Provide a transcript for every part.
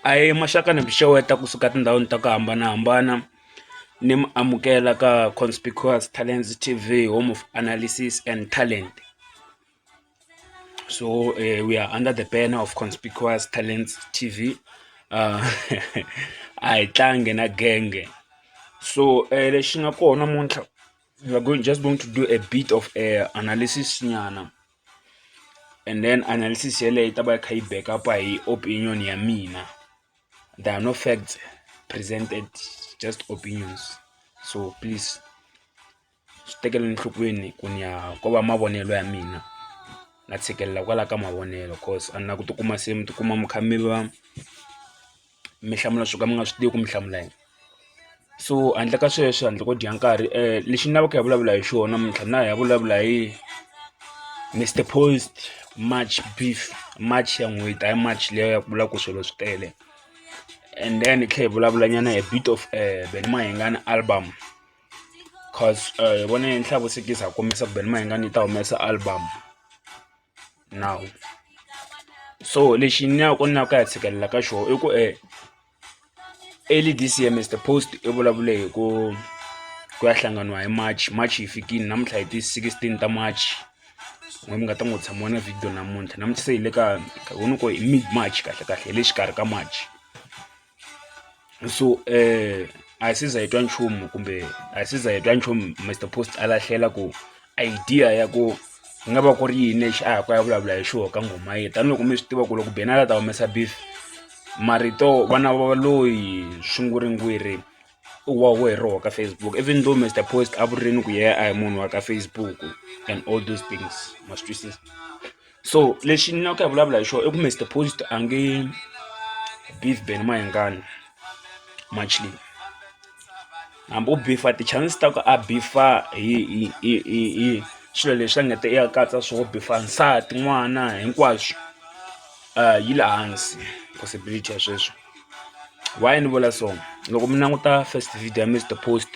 a hi maxaka ni mi xeweta kusuka etindhawini ta ku hambanahambana ni mi amukela ka Conspicuous Talents T_V Home of Analysis and Talent so we are under the banner of Conspicuous Talents T_V a hi tlangi na genge so lexi nga kona namuntlha we are just going to do a bit of analysis nyana. and then analysis yeleyo yi ta va yi kha yi back up hi opinion ya mina there are no facts presented just opinions so please swi tekeleni enhlokweni ku ni ya ko va mavonelo ya mina na tshikelela kwala ka mavonelo coz a ni la ku tikuma se mi tikuma mi kha mi va. mi hlamula swo ka mi nga swi tivi ku mi hlamula yini so handle ka sweswo handle ko dya nkarhi lexi ni lavaka hi ya vulavula hi xona mintlha na hi ya vulavula hi Mister Post March beef March ya n'hweti hayi March leyi ya ku vula ku swilo swi tele and then hi tlhela hi vulavula nyana hi bit of Benny Mayengani album cause hi vona yi ni hlakusekisa hi kombisa ku Benny Mayengani yi ta humesa album. nawu so lexi ni ya ku ni ya ku ya tshikelela ka xona i ku e early this year Mister Post i vulavule hi ku ku ya hlanganiwa hi March March yi fikile namuntlha hi ti sixteen ta March n'we mi nga ta n'wi tshamiwa na video namuntlha namuntlha se hi le ka hi ku hi mid March kahle kahle hi le xikarhi ka March. so um a hi si za hi twa nchumu kumbe a hi si za hi twa nchumu Mister Post a lahlela ku idea ya ku ku nga va ku ri yini lexi a ya ku ya vulavula hi xona ka nghoma yena tanihiloko mi swi tiva ku loko benala ta humesa beef marito vana va loyi swinguringwiri wa we roho ka Facebook even though Mister Post a vurini ku yena a hi munhu wa ka Facebook and all those things ma swi twisisa. so lexi ni lava ku ya vulavula hi xona i ku Mister Post a nge beef Ben Mayengani match leyi hambi u beef-a ti-chances ta ku a beef-a hi hi hi hi hi swilo leswi a nga ta i ya katsa swona u beef-a nsati n'wana hinkwaswo yi le hansi possibility ya sweswo why ni vula so loko mi languta first video ya Mister Post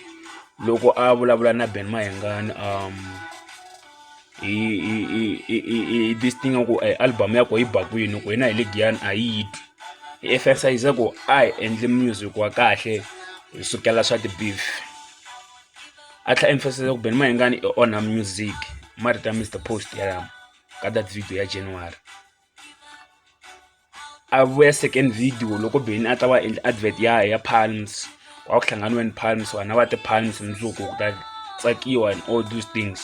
loko a vulavula na Ben Mayengani . i this thing ya ku album ya ko yi ba kwini ku yena hi le giyani a yi yi twi hi exercise ya ku a hi endli music wa kahle hi sukela swa ti-beef a tlha emphasize ku beni mayengani i onha music marito ya mr post yalama ka that video ya january a vuya second video loko beni a ta va endla advert ya ya palms a ku hlanganiwe ni palms vanhu a va ti palms mundzuku ku ta tsakiwa and all those things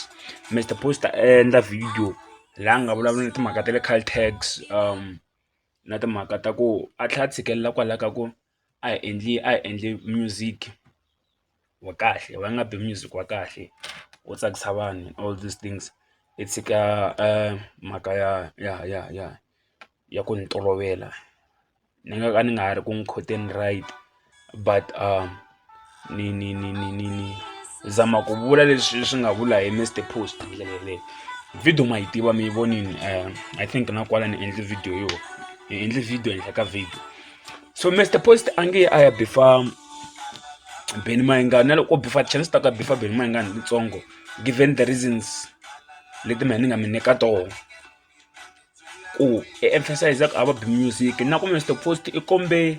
Mister Post a endla video laha nga vulavula na timhaka ta le Caltex um na timhaka ta ku a tlhela a tshikelela kwalaho ka ku a hi endli a hi endli music wa kahle va nga bi music wa kahle wo tsakisa vanhu all these things hi tshika mhaka ya ya ya ya ya ku ni tolovela ni nga ka ni nga ha ri ku n'wi khoteni right but . ni ni ni ni ni ni zama ku vula leswi swi nga vula hi mr post hi ndlela yeleyo video ma yi tiva mi yi vonini um i think na kwala ni endle video yo ni endle video ehenhla ka video so mr post a nge a ya bifa beni mayingani na loko bifa chance ta ka bifa beni mayingani litsongo given the reasons leti mina ni nga mi nyika tona ku e emphasize ku a va bi music na ku mr post i kombe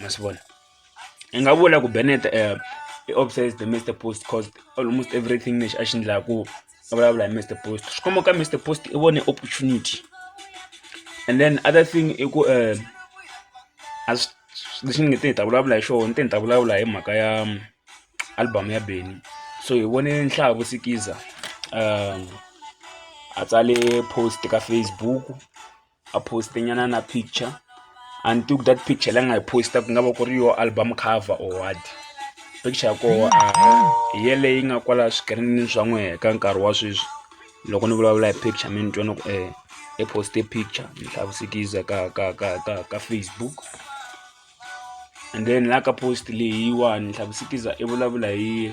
ma swi vona ni nga vula ku Bennet i obsessed hi Mister Post coz almost everything lexi a xi endlaku a vulavula hi Mister Post swi komba ku ka Mister Post i vone opportunity and then other thing i ku a swi lexi ni nge te ni ta vulavula hi xona ni te ni ta vulavula hi mhaka ya album ya Benny so hi vone nhlayo vo sikiza a tsale post ka Facebook. a post-e nyana na picture a ni tivi ku that picture leyi a nga yi post-a ku nga va ku ri yoho album cover or what picture ya koho a hi yeleyi nga kwala swikirinini swa n'we ka nkarhi wa sweswi loko ni vulavula hi picture mi ni twa ni ku um i post-e picture ni hlavusikiza ka ka ka ka ka facebook and then la ka post leyiwani ni hlavusikiza i vulavula hi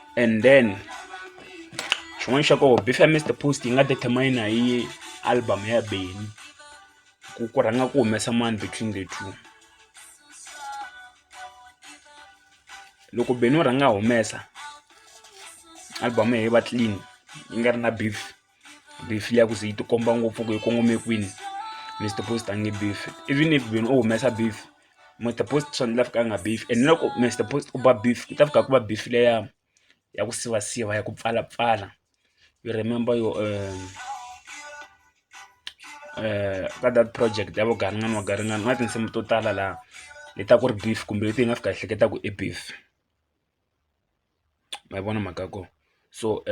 and then xin'wana xa kona beef ya Mister Post yi nga determiner hi album ya Benny ku ku rhanga ku humesa mani between the two loko Benny u rhanga a humesa album ya yena yi va clean yi nga ri na beef. beef liya ku ze yi tikomba ngopfu ku yi kongome kwini mi swi tipost a nge beef even if munhu o humesa beef mi tipost swa ndlela fika a nga beef and loko mi swi tipost ku ba beef ku ta fika ku va beef leya ya ku sivasiva ya ku pfalapfala you remember your um, uh, ka that project ya vugaringani wa garingani ku na tinsimu to tala laha leta ku ri beef kumbe leti hi nga fika hi hleketa ku i beef. ma yi vona mhaka ya kona so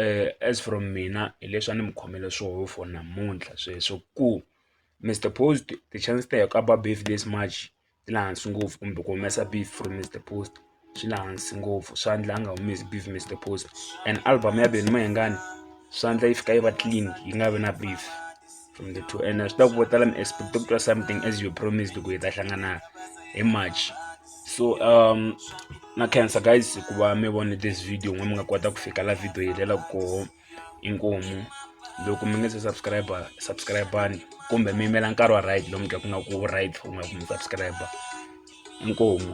as from mina hi leswi a ni mi khomela swona for namuntlha sweswo ku Mister Post ti-chances ta ku a ba beef this much ti le hansi ngopfu kumbe ku humesa beef from Mister Post swi le hansi ngopfu swa endla a nga humesi beef Mister Post and album ya Benny Mayengani swa endla yi fika yi va clean yi nga vi na beef. from the two and swi ta ku vo tala mi expect ku twa something as you promised ku hi ta hlangana hi march so um na cancer guys ku va mi vone this video n'we mi nga kota ku fika la video yi helela koho inkomu loko mi nge se subscriber subscribani kumbe mi yimela nkarhi wa right lomu ka ku nga ku right u nga ku mi subscriber inkomu